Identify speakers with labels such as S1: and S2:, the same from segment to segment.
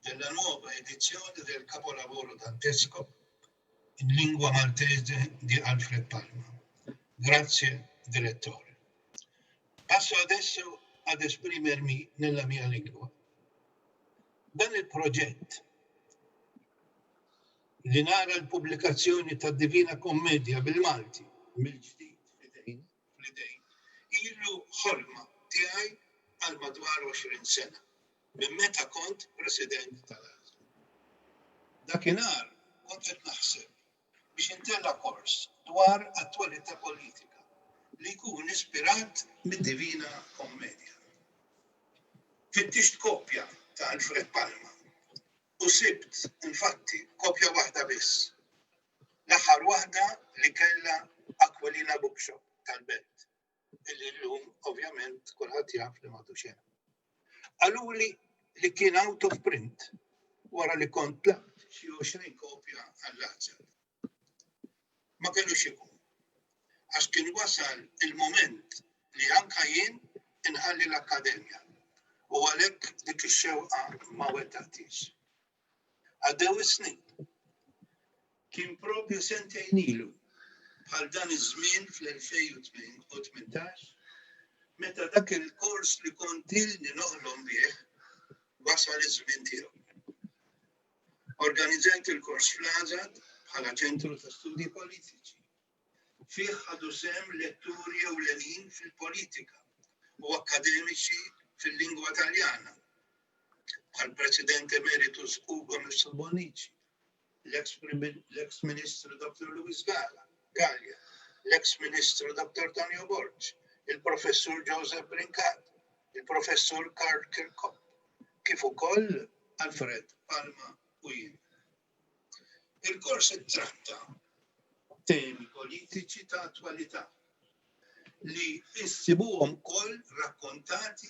S1: Din la nuova edizione del capolavoro dantesco in lingua maltese di Alfred Palma. Grazie Direttore. Passo adesso ad esprimermi nella mia lingua. Dan il-proġett li nara l-pubblikazzjoni ta' Divina Kommedia bil-Malti mill-ġdid fl-idejn fl-idejn ilu ħolma tiegħi għal madwar 20 sena. minn meta kont President tal-ASL. Dakinhar kont qed naħseb biex intella' kors dwar attwalità politika li jkun ispirat mid-Divina Kommedja. Fittixt kopja ta' Alfred Palma u sibt, infatti, kopja waħda biss, l-aħħar waħda li kellha Aquilina Bookshop tal-Belt. Illi llum ovvjament kulħadd jaf li m'għadux hemm. Qaluli li kien out of print wara li kont tlaqt xi 20 kopja għall-azzar. Ma kellux ikun. Għax kien wasal il-moment li anka jien inħalli l-akkademja u għalhekk dik ix-xewqa ma wettaqtix. Għaddew is-snin. Kien propju sentejn ilu bħal dan iż-żmien fl-2018 meta dak il-kors li kont ilni noħlom bih wasal iż-żmien tiegħu. Organizzajt il-kors fl-Għażad bħala ċentru ta' studji politiċi. Fih ħadu sehem letturi ewlenin fil-politika u akkademiċi fil-lingwa Taljana, bħall-President Emeritus Ugo Musso Bonnici, l-eks Ministru Dottor Louis Galea, l-eks Ministru Dottor Tonio Borg, il-Professur Joseph Brincat, il-Professur Karl Kirkop, kif ukoll Alfred Palma u jien. Il-kors ittratta temi politiċi ta' attwalità li issibuhom ukoll rakkontati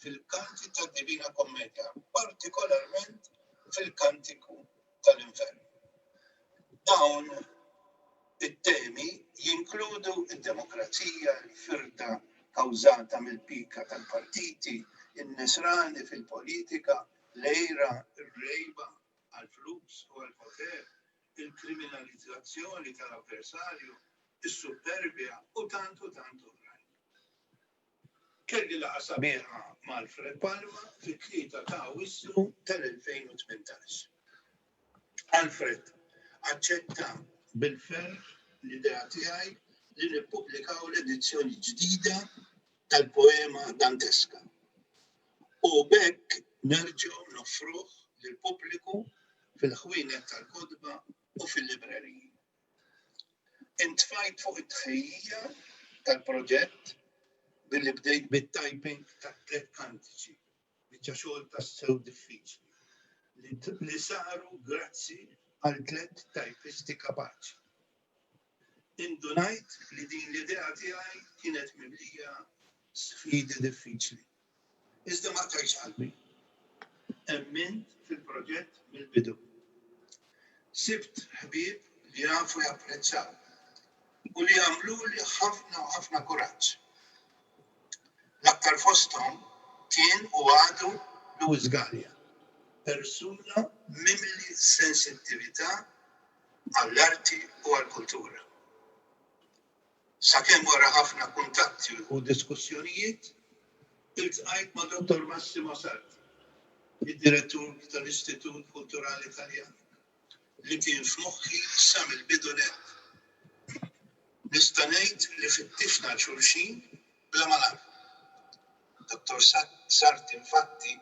S1: fil-kanti tad-Divina Kommedja, partikolarment fil-Kantiku tal-Infern. Dawn it-temi jinkludu d-demokrazija, il-firda kawżata mill-pika tal-partiti, in-nisrani fil-politika, l-għira, ir-rejba, għall-flus u għall-poter, il-kriminalizzazzjoni tal-avversarju, is-supperbja u tant u tant oħrajn. Kelli laqgħa sabiħa ma' Alfred Palma fit-Tlieta ta' Awwissu tal-2018. Alfred aċċetta bil-ferħ l-idea tiegħi li nippubblikaw l-edizzjoni ġdida tal-poema Danteska u b'hekk nerġgħu noffruh lill-pubbliku fil-ħwienet tal-kotba u fil-libreriji. Intfajt fuq it-tħejjija tal-proġett billi bdejt bit-typing tat-tliet kantiċi. Biċċa xogħol tassew diffiċli li saru grazzi għal tliet tajpisti kapaċi. Indunajt li din l-idea tiegħi kienet mimlija sfidi diffiċli. Iżda ma tajx qalbi. Emmint fil-proġett mill-bidu. Sibt ħbieb li jafu japprezzaw u li għamlu li ħafna u ħafna kuraġġ. L-aktar fosthom kien u għadu Louis Galea, persuna mimli sensittività għall-arti u għall-kultura. Sakemm wara ħafna kuntatti u diskussjonijiet, iltqajt ma' Dottor Massimo Sarti, id-Direttur tal-Istitut Kulturali Taljan, li kien f'moħħi sa mill-bidu nett. Nista' ngħid li fittixna għal xulxin bla ma nagħlmu. Dottor Sarti infatti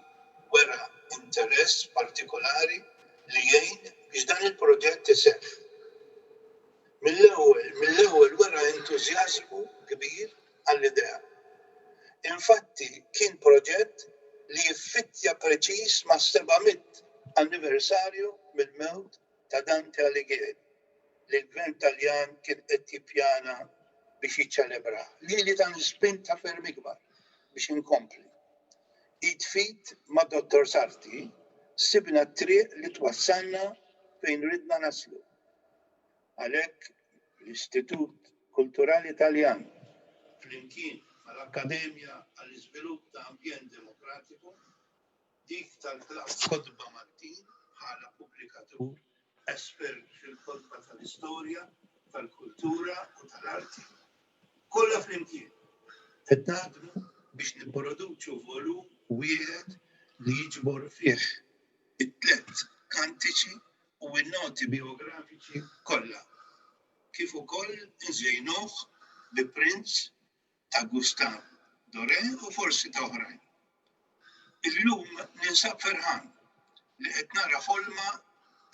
S1: wera interess partikolari li jgħin biex dan il-proġett iseħħ. Mill-ewwel wera entużjażmu kbir għall-idea. Infatti kien proġett li jiffittja preċiż mas-seba' mitt anniversarju mill-mewt ta' Dante Alighieri li l-Gvern Taljan kien qed jippjana biex jiċċelebrah. Lili tani spinta ferm ikbar biex inkompli. Id f'id ma' Dottor Sarti sibna t-triq li twassalna fejn ridna naslu. Għalhekk, l-Istitut Kulturali Taljan, flimkien mal-Akkademja għall-Iżvilupp ta' Ambjent Demokratiku, dik tal-Kotba Maltin bħala pubblikatur espert fil-kotba tal-istorja, tal-kultura u tal-arti, kollha flimkien qed naħdmu biex nipproduċu volum wieħed li jiġbor fih it-tliet kantiċi u n-noti bijografiċi kollha, kif ukoll inżejnuh bi prints ta' Gustave Doré u forsi ta' oħrajn. Illum ninsab ferħan li qed nara ħolma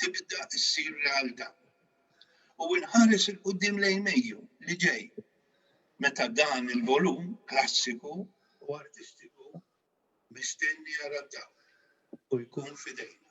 S1: tibda ssir realtà u nħares 'il quddiem lejn Mejju li ġej meta dan il-volum klassiku u artistiku mistenni jara d-dawl u jkun f'idejna.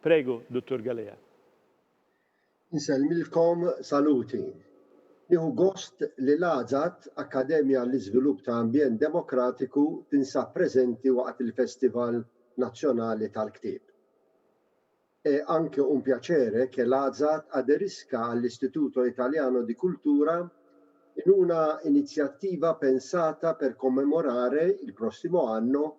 S2: Prego, Dottor Galea. Insellmilkom
S3: saluti. Nieħu gost li l-AZAD, Akkademja għall-Iżvilupp ta' Ambjent Demokratiku, tinsab preżenti waqt il-Festival Nazzjonali tal-Ktieb. È anche un piacere che l'AZAD aderisca all'Istituto Italiano di Cultura in una iniziativa pensata per commemorare, il prossimo anno,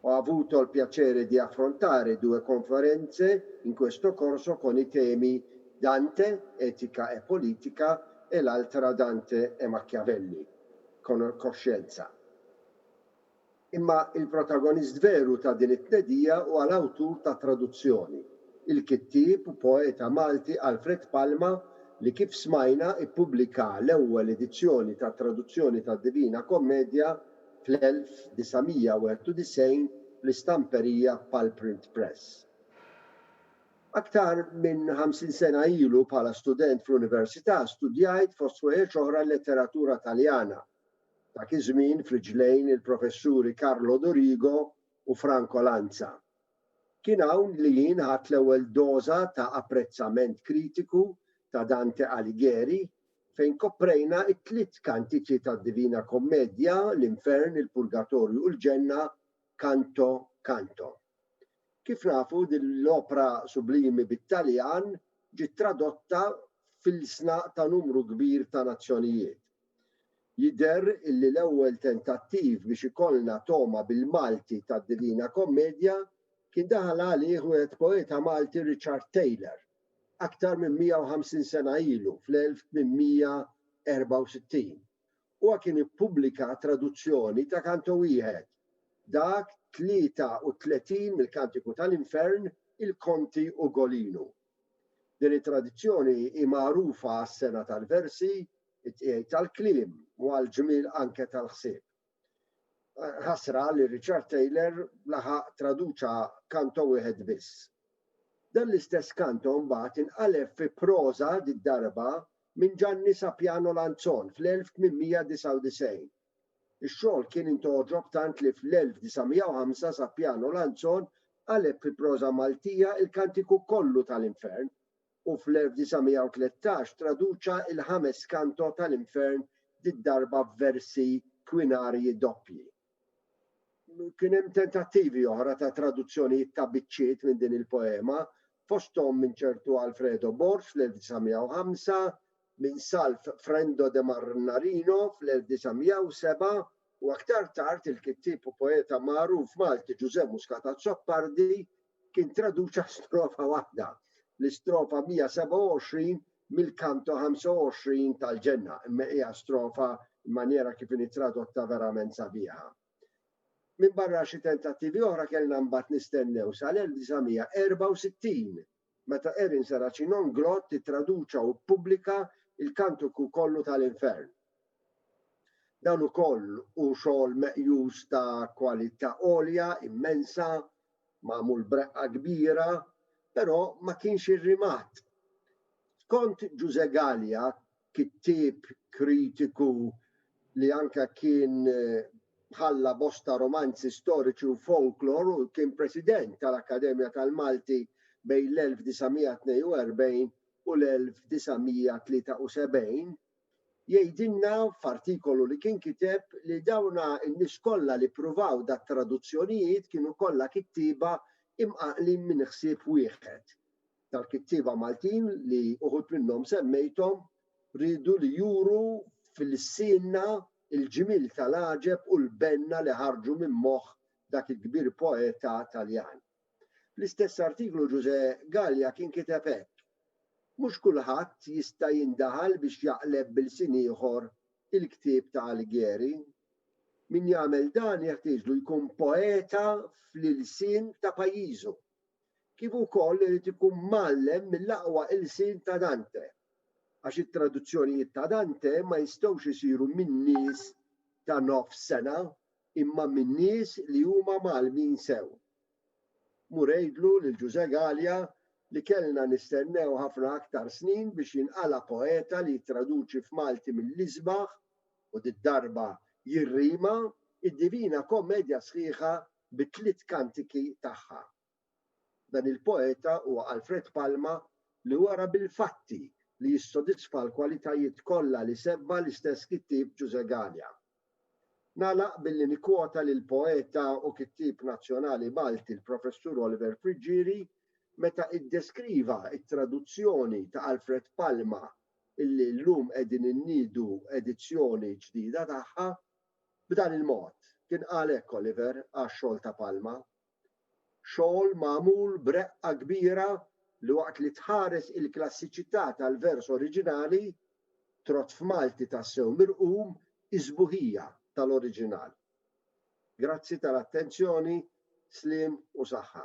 S3: Ho avuto il piacere di affrontare due conferenze in questo corso con i temi Dante, etica e politica e l'altra Dante e Machiavelli, coscienza. Imma il-protagonist veru ta' din it-tnedija huwa l-awtur tat-traduzzjoni, il-kittieb u poeta Malti Alfred Palma li kif smajna ippubblika l-ewwel edizzjoni tat-traduzzjoni tad-Divina Kommedja fl-1991 fl-istamperija Pal Print Press. Aktar minn ħamsin sena ilu bħala student fl-Università studjajt fost ħwejjeġ oħra l-letteratura Taljana, dak iż-żmien f'riġlejn il-professuri Carlo Dorigo u Franco Lanza. Kien hawn li jien ħadt l-ewwel doża ta' apprezzament kritiku ta' Dante Alighieri, fejn koprejna t-tliet kantiċi tad-Divina Kommedja, l-Infern, il-Purgatorju u l-Ġenna, Canto Canto. Kif nafu, din l-opra sublimi bit-Taljan ġiet tradotta f'ilsna ta' numru kbir ta' nazzjonijiet. Jidher illi l-ewwel tentattiv biex ikollna togħma bil-Malti tad-Divina Kommedja kien daħal għalih wieħed poeta Malti Richard Taylor, aktar minn 150 sena ilu, fl-1864. Huwa kien ippubblika traduzzjoni ta' kanto wieħed, dak 33 mill-Kantiku tal-Infern, il-Conti Ugolinu. Din it-tradizzjoni hi magħrufa għas-sengħa tal-versi, it-tqiegħed tal-kliem u għall-ġmiel anke tal-ħsieb. Ħasra li Richard Taylor laħaq traduċa kanto wieħed biss. Dan l-istess kanto mbagħad inqaleb fi proża did-darba minn Ġanni Sapiano Lanzon fl-1899. Ix-xogħol kien intgħoġob tant li fl-1905 Sapiano Lanzon qaleb fi proża Maltija il-Kantiku kollu tal-Infern u fl-1913 traduċa l-ħames Kanto tal-Infern did-darba f'versi kwinarji doppji. Kien hemm tentattivi oħra ta' traduzzjonijiet ta' biċċiet minn din il-poema, fosthom minn ċertu Alfredo Bors fl-1905, minn Salv Frendo de Marnarino fl-1907 u aktar tard il-kittieb u poeta magħruf Malti Ġużè Muscat Azzopardi kien traduċa strofa waħda, l-istrofa 127 mill-Canto 25 tal-Ġenna, imma hija strofa manjera kif inhi tradotta verament sabiħa. Minbarra xi tentattivi oħra kellna mbagħad nistennew sal-1964 meta Erin Saracinon Glott ittraduċa u ppubblika l-Kantiku kollu ta' l-Infern. Dan ukoll hu xogħol meqjus ta' kwalità għolja immensa, magħmul b'reqqa kbira, però ma kienx irrimat. Skont Ġużè Galea, kittieb kritiku li anke kien ħalla bosta romanzi storiċi u folklor u kien President tal-Akkademja tal-Malti bejn l-1942 u l-1973, jgħidilna f'artikolu li kien kiteb li dawna n-nies kollha li ppruvaw dat-traduzzjonijiet kienu kollha kittieba imqanqlin minn ħsieb wieħed. tal-kittieba Maltin li uħud minnhom semmejthom riedu li juru fil-sienna il-ġmiel tal-għaġeb u l-benna li ħarġu minn moħħ dak il-kbir poeta Taljan. Fl-istess artiklu Ġużè Galea kien kiteb hekk, Mhux kulħadd jista' jindaħal biex jaqleb b'ilsien ieħor il-ktieb ta' Alighieri. Min jagħmel dan jeħtieġlu jkun poeta fl-ilsien ta' pajjiżu. kif ukoll irid ikun mgħallem mill-aqwa ilsien ta' Dante, għax it-traduzzjonijiet ta' Dante ma jistgħux isiru minn nies ta' nofs sengħa imma minn nies li huma mgħallmin sew. Mur għidlu lil Ġużè Galea li kellna nistennew ħafna aktar snin biex jinqala' poeta li jittraduċi f'Malti mill-isbaħ, u did-darba jirrima, id-Divina Kommedja sħiħa bit-tliet kantiki tagħha. Dan il-poeta huwa Alfred Palma li wera bil-fatti li jissodisfa l-kwalitajiet kollha li sebba l-istess kittieb Ġużè Galea. Nagħlaq billi nikkwota lill-poeta u kittieb nazzjonali Malti l-Professur Oliver Friggieri meta iddeskriva t-traduzzjoni ta' Alfred Palma illi llum qegħdin inniedu edizzjoni ġdida tagħha B'dan il-mod, kien qal hekk Oliver għax-xogħol ta' Palma, xogħol magħmul b'reqqa kbira li waqt li tħares il-klassiċità tal-vers oriġinali, trott f'Malti tassew mirqum is-sbuħija tal-oriġinal. Grazzi tal-attenzjoni, sliem u saħħa.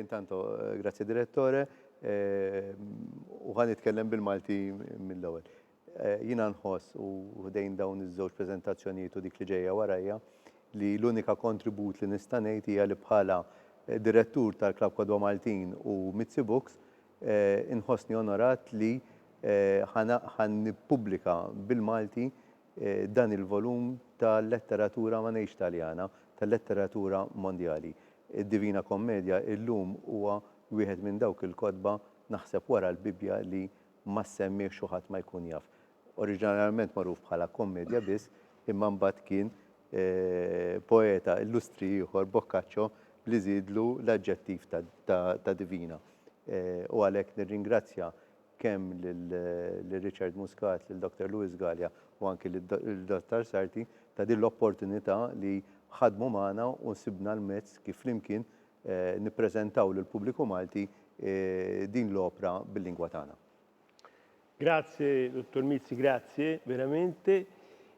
S4: Intanto, grazie Direttore, u ħa nitkellem bil-Malti mill-ewwel. Jiena nħoss u ħdejn dawn iż-żewġ preżentazzjonijiet u dik li ġejja warajja li l-unika kontribut li nista' ngħid hija li bħala Direttur tal-Klabb Kodwa Maltin u Mizzi Books inħossni onorat li ħa nippubblika bil-Malti dan il-volum tal-letteratura ma ngħidx Taljana, tal-letteratura mondjali. Id-Divina Kommedja illum huwa wieħed minn dawk il-kotba, naħseb wara l-Bibbja, li ma ssemmihx u ħadd ma jkun jaf. Oriġinarjament magħruf bħala kommedja biss, imma mbagħad kien poeta illustri ieħor, Boccaccio, li żiedlu l-aġġettiv ta' divina. U għalhekk nirringrazzja kemm lil Richard Muscat, lil Dottor Louis Galea u anki lil Dottor Sarti ta' din l-opportunità li ħadmu magħna u sibna l-mezz kif flimkien nippreżentaw lill-pubbliku Malti din l-opra bil-lingwa tagħna.
S2: Grazzi Dottor Mizzi, grazzi verament.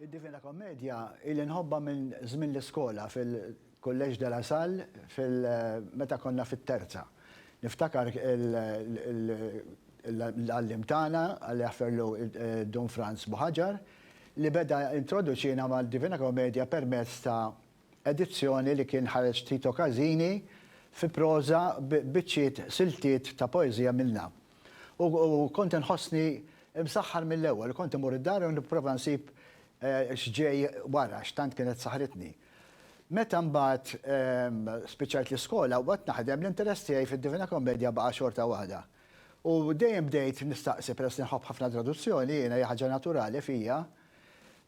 S2: Id-Divina
S5: Kommedja ili nħobbha minn żmien l-iskola fil-Collège de la Salle fil meta konna fit-terza. Niftakar l-għalliem tagħna, Alla jaħferlu Dun Franz Buħaġar, li beda introduċina mad-Divina Kommedja permezz ta' edizzjoni li kien ħareġ Tito Casini fi proża b'biċċiet siltiet ta' poeżija minnha. U kont inħossni msaħħar mill-ewwel u kont imur id-dar u nipprova nsib x'ġej wara x'tant kienet saħħritni. Meta mbagħad spiċċajt l-iskola u baqgħet naħdem, l-interess tiegħi fid-Divina Kommedja baqa' xorta waħda. U dejjem bdejt nistaqsi, peress li nħobb ħafna traduzzjoni jiena, hija ħaġa naturali fija,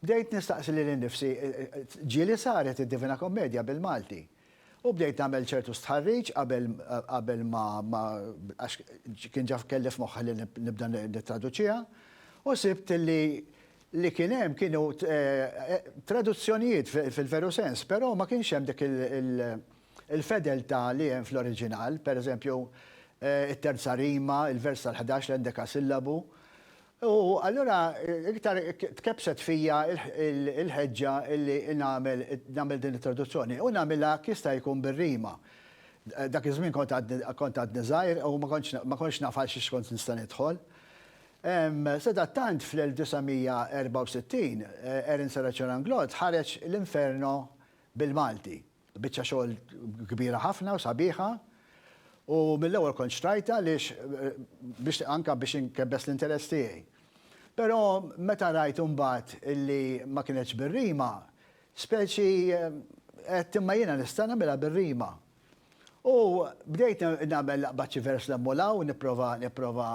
S5: Bdejt nistaqsi lili nnifsi, ġieli saret id-Divina Kommedja bil-Malti. U bdejt nagħmel ċertu stħarriġ qabel qabel ma ma għax kien ġa kelli f'moħħi li nibda nittraduċiha, u sibt li li kien hemm kienu traduzzjonijiet fil-veru sens, però ma kienx hemm dik il-fedeltà li hemm fl-oriġinal, pereżempju, it-terza rima, il-vers tal-ħdax, l-endekasillabu, U allura iktar tkebbset fija l-ħeġġa li nagħmel din l-introduzzjoni u nagħmilha hekk jista' jkun bir-rima. Dak iż-żmien kont għadni żgħir u ma kontx naf għal xiex kont nista' nidħol. Sadattant fl-1964 Aaron Sarachoranglou ħareġ L-Inferno bil-Malti. Biċċa xogħol kbira ħafna u sabiħa u mill-ewwel kont xtrajta għaliex biex anka biex inkebbes l-interess tiegħi. Però meta rajt imbagħad illi ma kinetx bir-rima, speċi qed imma jiena nista' nagħmilha bir-rima. U bdejt nagħmel laqbad xi vers l-hemm u l-hawn, nipprova nipprova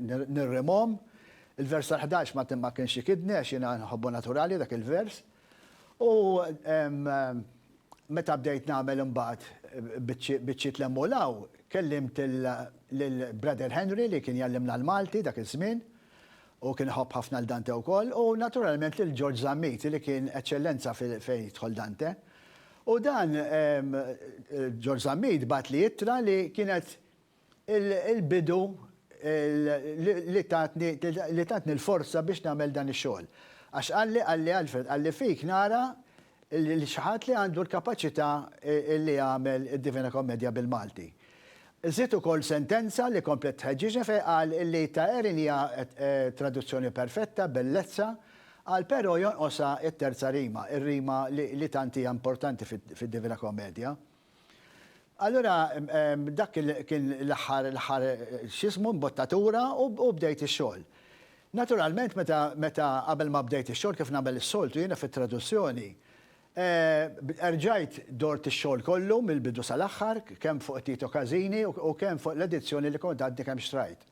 S5: nirrimhom. Il-vers tal-ħdax ma kienx ikidni għax jiena nħobbu naturali dak il-vers. U meta bdejt nagħmel imbagħad biċċiet l-hemm u l-hawn, kellimt lil Brother Henry li kien jgħallimna l-Malti dak iż-żmien, u kien iħobb ħafna 'l Dante wkoll, u naturalment lil George Zammit li kien eċċellenza fejn jidħol Dante. U dan George Zammit bagħatli ittra li kienet il-bidu li tatni li tatni l-forza biex nagħmel dan ix-xogħol. Għax qalli qalli Alfred qalli fik nara lil xi ħadd li għandu l-kapaċità li jagħmel id-Divina Kommedja bil-Malti. Żied ukoll sentenza li komplet tħeġġiġni fejn qal li ta' Erin hija traduzzjoni perfetta, bellezza, qal però jonqosha t-terza rima, ir-rima li tant hija importanti fid-Divina Kommedja. Allura dak kien l-aħħar l-aħħar x'ismu mbottatura u bdejt ix-xogħol. Naturalment meta meta qabel ma bdejt ix-xogħol kif nagħmel is-soltu jiena fit-traduzzjoni, erġajt dort ix-xogħol kollu mill-bidu sal-aħħar kemm fuq Tito Casini u kemm fuq l-edizzjoni li kont għadni kemm xtrajt.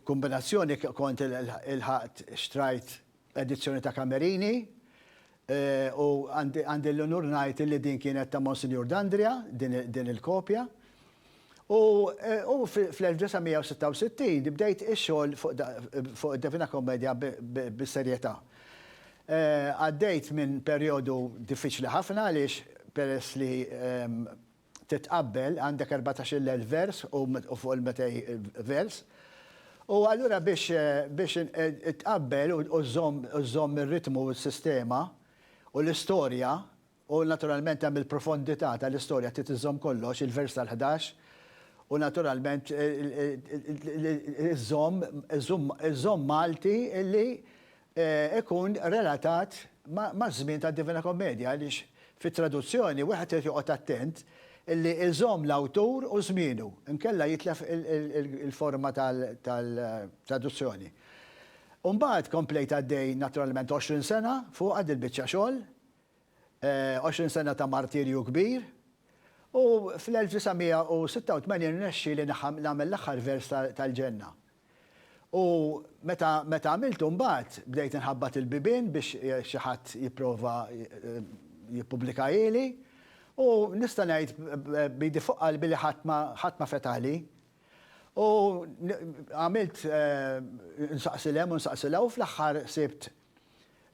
S5: Kombinazzjoni kont ilħaqt xtrajt edizzjoni ta' Camerini, u għandi l-unur ngħid illi din kienet ta' Monsinjur Dandria, din il-kopja. U fl-1966 bdejt ix-xogħol fuq id-Divina Commedia bis-serjetà. Għaddejt minn perjodu diffiċli ħafna għaliex peress li titqabbel, għandek erbatax-il elf vers u fuq il-metej vers. U allura biex biex tqabbel u u żżomm u żżomm ir-ritmu u s-sistema u l-istorja u naturalment hemm il-profondità tal-istorja trid iżżomm kollox, il-vers tal-ħdax u naturalment iżżomm iżżomm iżżomm Malti li ikun relatat maż-żmien tad-Divina Kommedja għaliex fit-traduzzjoni wieħed irid joqgħod attent li iżomm l-awtur u żmienu inkella jitlef il-forma tal-traduzzjoni. U mbagħad komplejt għaddej naturalment għoxrin sena fuqha dil-biċċa xogħol, għoxrin sena ta' martirju kbir, u fl-1986 rnexxieli nagħmel l-aħħar vers tal-Ġenna. U meta meta għamiltu mbagħad bdejt inħabbat il-bibien biex xi ħadd jipprova jippublikahieli u nista' ngħid b'idi fuq qalbi li ħadd ma ħadd ma fetaħli. U għamilt insaqsi 'l hemm u nsaqsi 'l hawn u fl-aħħar sibt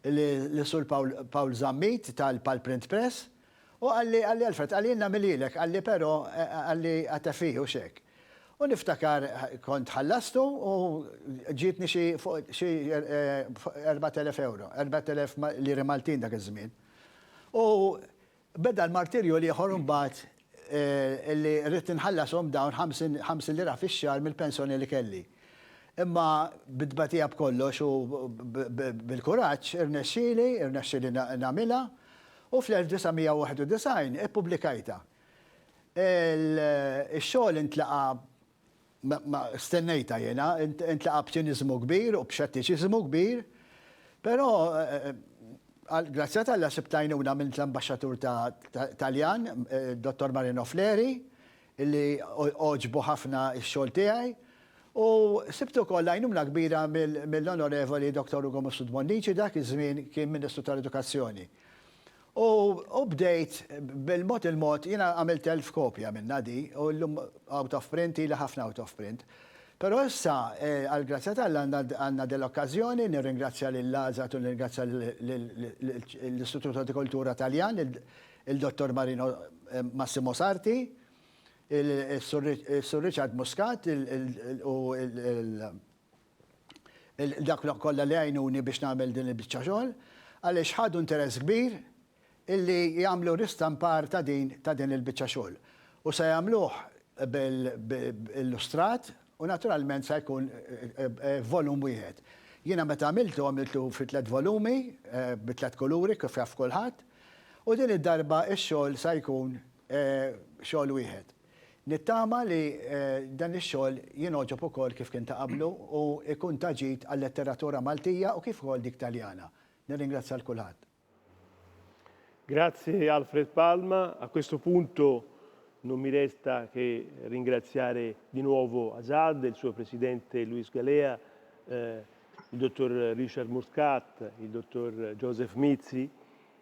S5: li Sur Pawl Zammit ta l-Palmprint Press u qalli, qalli Alfred, qalli jien nagħmilhielek, qalli però, qalli għatefih hux hekk. U niftakar kont ħallastu u ġietni xi fuq xi erbgħat elef ewro, erbgħat elef liri Maltin dak iż-żmien. U Beda l-martirju l-ieħor imbagħad li ridt inħallashom dawn 50 lira fix-xahar mill-pensjoni li kelli. Imma bit-tbatija b'kollox u bil-kuraġġ irnexxieli, irnexxieli nagħmilha u fl-1991 ippubblikajtha. Ix-xogħol intlaqa' Ma stennejtha jiena, intlaqa' b'ċiniżmu kbir u b'xettiċiżmu kbir, però għall-grazzja t'Alla sibt għajnuna minn l-Ambaxxatur Taljan, Dottor Marino Fleri, illi għoġbu ħafna x-xogħol tiegħi, u sibt ukoll għajnuna kbira mill-Onorevoli Dottor Ugo Mifsud Bonnici, dak iż-żmien kien Ministru tal-Edukazzjoni. U bdejt, bil-mod il-mod, jiena għamilt elf kopja minnha di, u llum out of print, ilha ħafna out of print. Però issa, għall-grazzja t'Alla, għandna dil-okkażjoni, nirringrazzja lill-ASAT u nirringrazzja lill-Istituto di Cultura Taljan, lil Dottor Marino Massimo Sarti, is-Sur Richard Muscat u dawk kollha li għinuni biex nagħmel din il-biċċa xogħol għaliex ħadu interess kbir illi jagħmlu ristampar ta' din ta' din il-biċċa xogħol u se jagħmluh bil illustrat u naturalment se jkun volum wieħed. Jiena meta għamiltu għamiltu fi tliet volumi bi tliet kuluri kif jaf kulħadd u din id-darba x-xogħol se jkun xogħol wieħed. Nittama li dan ix-xogħol jingħoġob ukoll kif kien ta' qablu u jkun ta' ġid għal-letteratura Maltija u kif ukoll dik Taljana. Nirringrazzja 'l kulħadd. Grazie
S2: Alfred Palma, a questo punto non mi resta che ringraziare di nuovo Azad, il suo presidente Luis Galea, il Dottor Richard Muscat, il Dottor Joseph Mizzi,